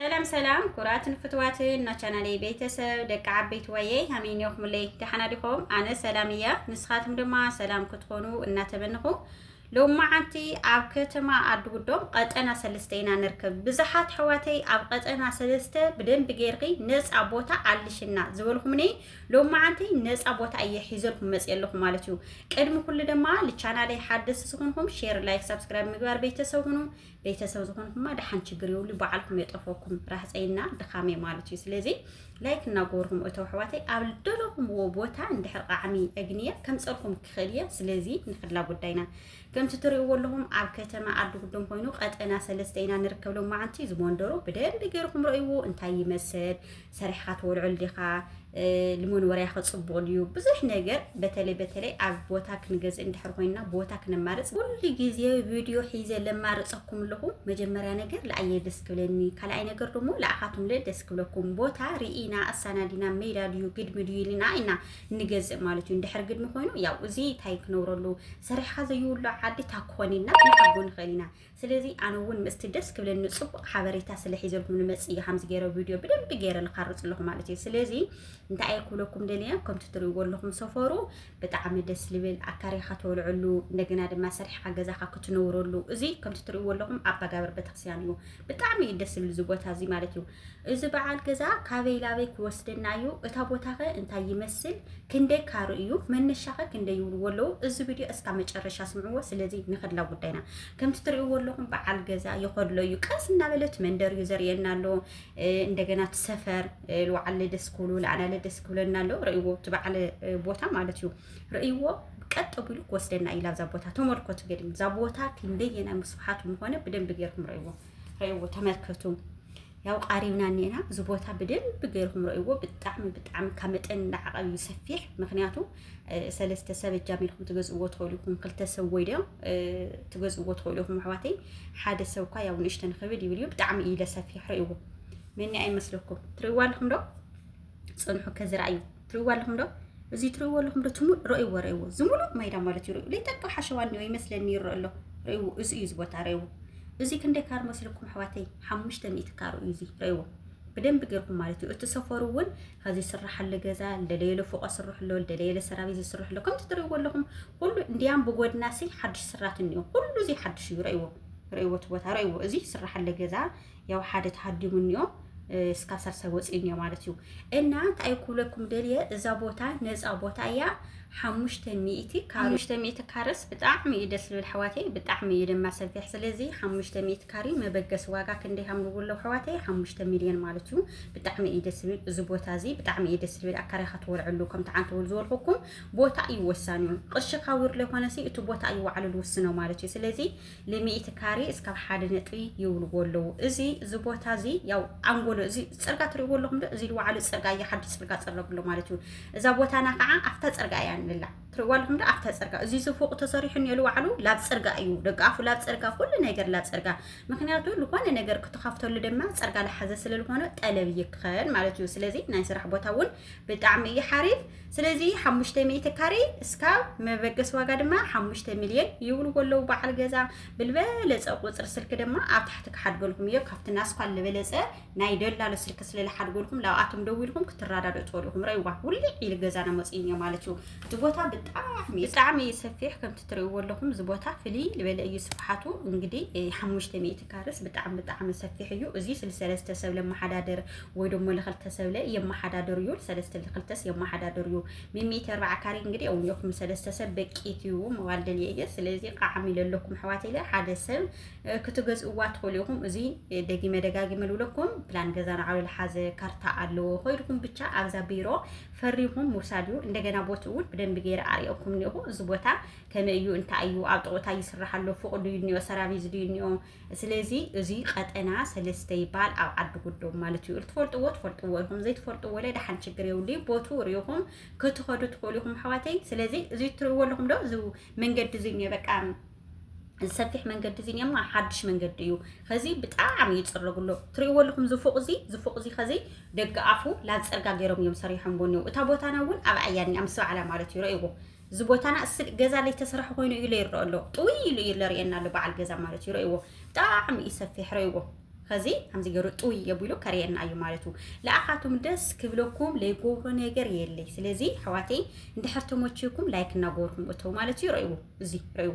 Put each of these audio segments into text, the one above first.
ሰላም ሰላም ኩራትን ፍትዋትን ናቻናለይ ቤተሰብ ደቂ ዓበይቲ ዋየ ሃመይ ኒኹምለይ ደሓና ዲኹም? ኣነ ሰላም እያ ንስኻትኩም ድማ ሰላም ክትኾኑ እናተመንኹ ሎም መዓንቲ ኣብ ከተማ ኣድጉዶም ቀጠና ሰለስተ ኢና ንርከብ። ብዙሓት ሕዋተይ ኣብ ቀጠና ሰለስተ ብደንቢ ጌርኺ ነፃ ቦታ ኣልሽና ዝበልኹምኒ ሎም መዓንቲ ነፃ ቦታ እየ ሒዘልኩም መፅ ኣለኹ ማለት እዩ። ቅድሚ ኩሉ ድማ ልቻናለይ ሓደስ ዝኾንኹም ሼር፣ ላይክ፣ ሳብስክራይብ ምግባር ቤተሰብ ሁኑ። ቤተሰብ ዝኾንኩማ ደሓን ችግር የብሉ በዓልኩም የጠፈኩም ራህፀይና ድኻመይ ማለት እዩ ስለዚ ላይክ እናገበርኩም እቶ ኣሕዋተይ ኣብ ልደለኹምዎ ቦታ እንድሕር ቃዕሚ እግንየ ከምፀልኩም ክኽእል እየ ስለዚ ንክላ ጉዳይና ከምቲ ትሪእዎ ኣለኹም ኣብ ከተማ ዓዲ ጉዶም ኮይኑ ቀጠና ሰለስተ ኢና ንርከብ ሎማዓንቲ ዝመንደሩ ብደንቢ ገይርኩም ረእይዎ እንታይ ይመስል ሰሪሕኻ ትበልዖ ዲኻ ንመንበሪያ ክፅቡቕ ድዩ ብዙሕ ነገር በተለይ በተለይ ኣብ ቦታ ክንገዝእ እንድሕር ኮይንና ቦታ ክነማርፅ ኩሉ ግዜ ቪድዮ ሒዘ ለማርፀኩም ኣለኹ መጀመርያ ነገር ለኣየ ደስ ክብለኒ ካልኣይ ነገር ደሞ ለኣኻቱም ለ ደስ ክብለኩም ቦታ ርኢና ኣሳናዲና ሜዳ ድዩ ግድሚ ድዩ ኢልና ኢና ንገዝእ ማለት እዩ እንድሕር ግድሚ ኮይኑ ያው እዚ እንታይ ክነብረሉ ሰሪሕኻ ዘይብሉ ዓዲ ታክኾን ኢልና ክንሓጎ ንኽእል ኢና ስለዚ ኣነ ውን ምስቲ ደስ ክብለኒ ጽቡቅ ሓበሬታ ስለ ሒዘልኩም ንመጽእ ኢየ ከምዚ ገይረ ቪድዮ ብደንቢ ገይረ ልኻርጽ ኣለኹ ማለት እዩ ስለዚ እንታይ እየ ክብለኩም ደልየ ከምቲ ትርእይዎ ኣለኹም ሰፈሩ ብጣዕሚ ደስ ልብል ኣካሪኻ ተወልዐሉ እንደገና ድማ ሰሪሕካ ገዛኻ ክትነብረሉ እዚ ከምቲ ትርእይዎ ኣለኹም ኣባጋብር ቤተክርስትያን እዩ ብጣዕሚ እዩ ደስ ዝብል እዚ ቦታ እዚ ማለት እዩ እዚ በዓል ገዛ ካበይ ላበይ ክወስደና እዩ? እታ ቦታኸ እንታይ ይመስል? ክንደይ ካሩ እዩ? መነሻኸ ክንደይ ይብልዎ ኣለዉ? እዚ ቪድዮ እስካ መጨረሻ ስምዕዎ። ስለዚ ንኸድላ ጉዳይና ከምቲ ትሪእዎ ኣለኹም በዓል ገዛ ይኸድሎ እዩ። ቀስ እናበለት መንደር እዩ ዘርእየና ኣሎ። እንደገና እቲ ሰፈር ልዋዓለ ደስ ክብሉ ልኣናለ ደስ ክብለና ኣሎ። ርእይዎ እቲ በዓል ቦታ ማለት እዩ ርእይዎ ቀጥ ብሉ ክወስደና ኢላ እዛ ቦታ ተመልከቱ። ገድም እዛ ቦታ ክንደየናይ ምስፍሓቱ ምኾነ ብደንብ ጌርኩም ርእይዎ። ረእዎ ተመልከቱ ያው ቃሪብና እኔና እዚ ቦታ ብደንብ ገይርኩም ረእዎ ብጣዕሚ ብጣዕሚ ካብ መጠን ንዓቐብ እዩ ሰፊሕ ምክንያቱ ሰለስተ ሰብ እጃም ኢልኩም ትገዝእዎ ትኽእሉ ኢኹም ክልተ ሰብ ወይ ዶ ትገዝእዎ ትኽእሉ ኢኹም ኣሕዋተይ ሓደ ሰብ እኳ ያው ንእሽተን ክብል ይብል እዩ ብጣዕሚ እዩ ለሰፊሕ ረእዎ መኒ ኣይመስለኩም ትርእይዎ ኣለኹም ዶ ፅንሑ ከዝርኣዩ ትሪእዎ ኣለኹም ዶ እዚ ትሪእዎ ኣለኹም ዶ ትሙእ ረእይዎ ረእይዎ እዚ ሙሉእ ማይዳ ማለት እዩ ርእዩ ጠቃ ሓሸዋ እኒኦ ይመስለኒ ይረእ ኣሎ ረእይዎ እዚ እዩ እዚ ቦታ ረእይዎ እዚ ክንደይ ካር መስልኩም ኣሕዋተይ ሓሙሽተ ሚእቲ ካር እዩ እዚ ረእይዎ ብደንብ ጌርኩም ማለት እዩ እቲ ሰፈሩ እውን ከዚ ስራሓለ ገዛ ልደለየለ ፎቆ ስርሕሎ ልደለየለ ሰራቤት ዝስርሕሎ ከምቲ ትሪእዎ ኣለኹም ኩሉ እንዲያም ብጎድናሲ ሓድሽ ስራት እኒኦ ኩሉ እዚ ሓድሽ እዩ ረእይዎ ረእይዎ እቲ ቦታ ረእይዎ እዚ ስራሓለ ገዛ ያው ሓደ ተሃዲሙ እኒኦ እስካብ ሳልሳይ ወፂኡ እኒኦ ማለት እዩ እና እንታይ ክብለኩም ደልየ እዛ ቦታ ነፃ ቦታ እያ ሓሙሽተ ሚእቲ ሓሙሽተ ሚእቲ ካርስ ብጣዕሚ እዩ ደስ ዝብል ኣሕዋተይ ብጣዕሚ እዩ ድማ ሰፊሕ ስለዚ ሓሙሽተ ሚእቲ ካሪ መበገሲ ዋጋ ክንደይ ሃምብዎ ኣለዉ ኣሕዋተይ ሓሙሽተ ሚልዮን ማለት እዩ ብጣዕሚ እዩ ደስ ዝብል እዚ ቦታ እዚ ብጣዕሚ እዩ ደስ ዝብል ኣካሪኻ ትወልዐሉ ከም ተዓንተወሉ ዝበልኩኩም ቦታ እዩ ወሳኒ እዩ ቅርሺ ካብ ውርለ ኮነሲ እቲ ቦታ እዩ ዋዕሉ ዝውስኖ ማለት እዩ ስለዚ ንሚእቲ ካሬ እስካብ ሓደ ነጥቢ ይብልዎ ኣለዉ። እዚ እዚ ቦታ እዚ ያው ኣንጎሎ እዚ ፅርጋ ትሪእዎ ኣለኹም ዶ እዚ ዋዕሉ ፅርጋ እዩ ሓዱሽ ፅርጋ ፀረግሎ ማለት እዩ። እዛ ቦታና ከዓ ኣብታ ፅርጋ እያ ንላ ትሪእዎ ኣለኹም ዶ ኣብታ ፅርጋ እዚ እዚ ፎቅ ተሰሪሑ እኒኦ ዋዕሉ ላብ ፅርጋ እዩ ደቂ ኣፉ ላብ ፅርጋ ኩሉ ነገር ላብ ፅርጋ ምክንያቱ ዝኾነ ነገር ክትኸፍተሉ ድማ ፅርጋ ልሓዘ ስለልኾነ ጠለብ ይከን ማለት እዩ። ስለዚ ናይ ስራሕ ቦታ እውን ብጣዕሚ እዩ ሓሪፍ ስለዚ ሓሙሽተ ሚእቲ ካሬ እስካብ መበገሲ ዋጋ ድማ ሓሙሽተ ሚልዮን ይብልዎ ኣለዉ በዓል ገዛ ብልበለፀ ቁፅሪ ስልኪ ድማ ኣብ ታሕቲ ክሓድገልኩም እዮ ካብቲ ናስኳል ልበለፀ ናይ ደላሎ ስልኪ ስለልሓድገልኩም ላብኣቶም ደው ኢልኩም ክትረዳድኡ ትኽእሉ ኢኹም ረይዋ ውልዕ ኢሉ ገዛና መፅኡ እዮ ማለት እዩ እቲ ቦታ ብጣዕሚ ብጣዕሚ እዩ ሰፊሕ ከምቲ ትርእይዎ ኣለኹም እዚ ቦታ ፍልይ ዝበለ እዩ ስፍሓቱ እንግዲህ ሓሙሽተ ሚእቲ ካርስ ብጣዕሚ ብጣዕሚ ሰፊሕ እዩ እዚ ስልሰለስተ ሰብ ለመሓዳደር ወይ ደሞ ለኸልተ ሰብለ የመሓዳደሩ እዩ ሰለስተ ለኸልተስ የመሓዳደሩ እዩ ሚሚት ኣርባዓ ካሪ እንግዲህ እውን የኹም ሰለስተ ሰብ በቂት እዩ መባል ደልየ እየ ስለዚ ቃዓሚ ለለኩም ኣሕዋት ኢለ ሓደ ሰብ ክትገዝእዋ ትኽእሉ ኢኹም እዚ ደጊመ ደጋጊመ ልብለኩም ፕላን ገዛ ንዓሉ ልሓዘ ካርታ ኣለዎ ኮይድኩም ብቻ ኣብዛ ቢሮ ፈሪኹም ምውሳድ እዩ እንደገና ቦት እውን ብደንቢ ገይረ ኣርእየኩም እኒኹ እዚ ቦታ ከመይ እዩ እንታይ እዩ ኣብ ጥቕኡ እንታይ ይስራሕ ኣሎ ፍቕዱ እዩ እኒኦ ሰራቪዝ ድዩ እኒኦ ስለዚ እዙይ ቀጠና ሰለስተ ይበሃል ኣብ ዓዲ ጉዶም ማለት እዩ ትፈልጥዎ ትፈልጥዎ ኢኹም ዘይትፈልጥዎ ለ ደሓን ችግር የብሉይ ቦቱ ሪኢኹም ክትኸዱ ትኽእሉ ኢኹም ኣሕዋተይ ስለዚ እዙይ ትርእዎ ኣለኹም ዶ እዚ መንገዲ እዙይ እኒኦ በቃ ሰፊሕ መንገዲ እዚ እሞ ሓድሽ መንገዲ እዩ ከዚ ብጣዕሚ ይፅረጉ ኣሎ ትርእይዎ ኣለኹም ዝፉቕ እዚ ዝፉቕ እዚ ከዚ ደገ ኣፉ ላፅርጋ ገይሮም እዮም ሰሪሖምዎ እኒው እታ ቦታና እውን ኣብ ኣያኒያ ምስ በዓላ ማለት እዩ ረእይዎ እዚ ቦታና ስቅ ገዛ ለይተሰረሐ ኮይኑ እዩ ለይረኦ ኣሎ ጥውይ ኢሉ እዩ ለርእየና ኣሎ በዓል ገዛ ማለት እዩ ረእዎ ብጣዕሚ እዩ ሰፊሕ ረእዎ ከዚ ከምዚ ገይሩ ጥውይ የቢሉ ከርእየና እዩ ማለት እዩ ለኣኻቱም ደስ ክብለኩም ለይገብሮ ነገር የለይ ስለዚ ኣሕዋተይ እንድሕር ተመችኩም ላይክ እናገበርኩም እተው ማለት እዩ ረእዎ እዚ ረእዎ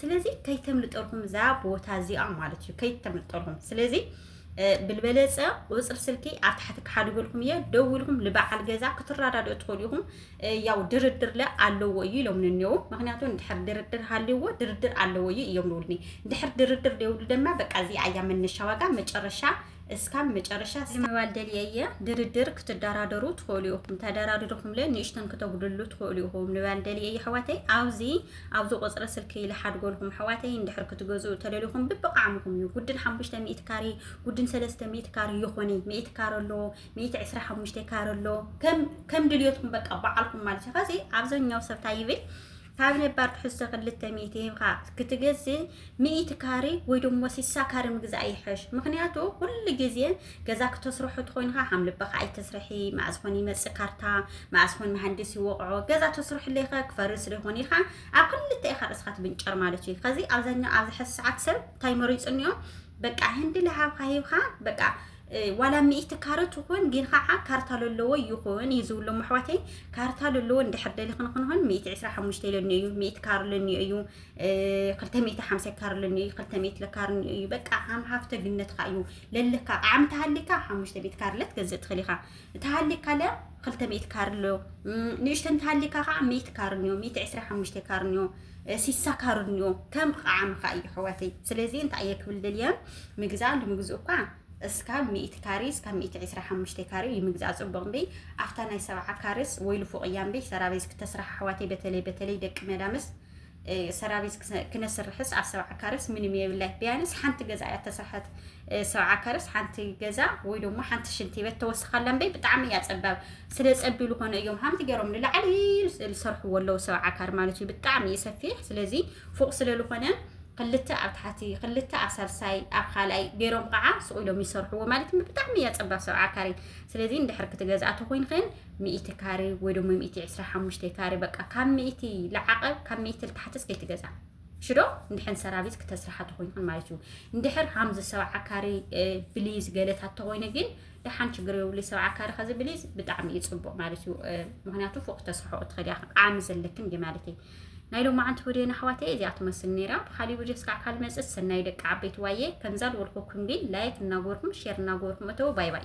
ስለዚ ከይተምልጠልኩም እዛ ቦታ እዚኣ ማለት እዩ ከይተምልጠልኩም ስለዚ ብልበለፀ ቁፅሪ ስልኪ ኣብ ታሕቲ ክሓድገልኩም እየ ደውልኩም ንበዓል ገዛ ክትረዳድኡ ትኽእሉ ኢኹም ያው ድርድር ለ ኣለዎ እዩ ኢሎም ንኔው ምክንያቱ ንድሕር ድርድር ሃልዎ ድርድር ኣለዎ እዩ እዮም ንብልኒ ድሕር ድርድር ደውሉ ደማ በቃ እዚ ኣያ መነሻ ዋጋ መጨረሻ እስካብ መጨረሻ ምባል ደልየ እየ ድርድር ክትደራደሩ ትኽእሉ ኢኹም ተደራድርኩም ለ ንእሽተን ክተጉድሉ ትኽእሉ ኢኹም ንባል ደልየ እየ ኣሕዋተይ ኣብዚ ኣብዚ ቁጽሪ ስልኪ ልሓድጎልኩም ኣሕዋተይ እንድሕር ክትገዝኡ ተደሊኹም ብብቃዕምኹም እዩ ጉድል ሓሙሽተ ሚእቲ ካሬ ጉድን ሰለስተ ሚእቲ ካሬ ይኾኒ ሚእቲ ካረ ኣሎ ሚእቲ ዕስራ ሓሙሽተ ካረ ኣሎ ከም ከም ድልዮትኩም በቃ በዓልኩም ማለት እዩ ከዚ ኣብዛኛው ሰብ ታይ ይብል ካብ ነባር ትሕዝቶ ክልተ ሚእቲ ሂብካ ክትገዝእ ሚእቲ ካሬ ወይ ደሞ ሲሳ ካሬ ምግዛእ ይሕሽ ምክንያቱ ኩሉ ግዜ ገዛ ክተስርሑ ትኾይንኻ ከም ልበኻ ኣይተስርሒ መኣዝ ኾን ይመፅእ ካርታ መኣዝ ኾን መሃንዲስ ይወቕዖ ገዛ ተስርሕለይ ኸ ክፈርስ ዶ ይኾን ኢኻ ኣብ ክልተ ኢኻ ርእስኻ ትብንጨር ማለት እዩ ከዚ ኣብዛኛው ኣብዚ ሕዚ ሰዓት ሰብ እንታይ መሪፁ እኒኦ በቃ ህንዲ ለሃብካ ሂብካ በቃ ዋላ ሚእቲ ካረ ትኹን ግን ከዓ ካርታ ለለዎ ይኹን እዩ ዝብሎም ኣሕዋተይ ካርታ ለለዎ እንድሕር ደሊ ክንክንኹን ሚእቲ ዕስራ ሓሙሽተ ኢለኒ እዩ ሚእቲ ካር ለኒ እዩ ክልተ ሚእቲ ሓምሳ ይካርልኒ እዩ ክልተ ሚእቲ ለካርኒ እዩ በቃ ሃም ሃፍተ ግነትካ እዩ ለለካ ዓም ተሃሊካ ሓሙሽተ ቤት ካርለ ትገዝእ ትኽእል ኢኻ ተሃሊካ ለ ክልተ ሚእቲ ካርሎ ንእሽተ እንተሃሊካ ከዓ ሚእቲ ካርኒዮ ሚእቲ ዕስራ ሓሙሽተ ካርኒዮ ሲሳ ካርኒዮ ከም ቃዓምካ እዩ ሕዋተይ ስለዚ እንታይ እየ ክብል ደልየ ምግዛእ ንምግዝኡ እኳ እስካብ ሚእቲ ካሬ እስካብ ሚእቲ ዕስራ ሓሙሽተ ካሬ እዩ ምግዛእ ፅቡቅ እምበይ ኣብታ ናይ ሰብዓ ካሬስ ወይ ልፉቅ እያ እምበይ ሰራቤዝ ክተስራሕ ኣሕዋተይ በተለይ በተለይ ደቂ መዳምስ ሰራቢት ክነስርሕስ ኣብ ሰብዓ ካረስ ምንም የብላይ ቢያንስ ሓንቲ ገዛ እያ ተሰርሐት ሰብዓ ካረስ ሓንቲ ገዛ ወይ ደሞ ሓንቲ ሽንቲ ቤት ተወስኻላ እምበይ ብጣዕሚ እያ ፀባብ ስለ ፀቢ ዝኾነ እዮም ሃምቲ ገይሮም ንላዕሊ ዝሰርሕዎ ኣለዉ ሰብዓ ካር ማለት እዩ ብጣዕሚ እዩ ሰፊሕ ስለዚ ፎቅ ስለ ዝኾነ ክልተ ኣብ ታሕቲ ክልተ ኣብ ሳልሳይ ኣብ ካልኣይ ገይሮም ከዓ ስቑ ኢሎም ይሰርሕዎ ማለት ብጣዕሚ እያ ፀባብ ሰብዓ ካሬ ስለዚ እንድሕር ክትገዝኣ ተኮይንክን ሚእቲ ካሬ ወይ ደሞ ሚእቲ ዕስራ ሓሙሽተ ካሬ በቃ ካብ ሚእቲ ልዓቐ ካብ ሚእቲ ልታሕትስ ከይትገዛ ሽዶ እንድሕን ሰራቪስ ክተስርሓ ተኮይንክን ማለት እዩ እንድሕር ሃምዚ ሰብዓ ካሬ ብሊዝ ገለታት ተኮይኑ ግን ደሓን ችግር የብሉ ሰብዓ ካሬ ከዚ ብሊዝ ብጣዕሚ እዩ ፅቡቅ ማለት እዩ ምክንያቱ ፎቅ ተስርሖ እትኸዲ ዓሚ ዘለክን ዩ ማለት እዩ ናይ ሎሚ ዓንቲ ወዲየን ኣሕዋት እየ እዚኣ ትመስል ነይራ ብካሊእ ቪድዮ ስካዕ ካል መፅእ ሰናይ ደቂ ዓበይቲ ዋየ ከምዛ ዝበልኩኩም ግን ላይክ እናጎርኩም ሼር እናጎርኩም እተው ባይ ባይ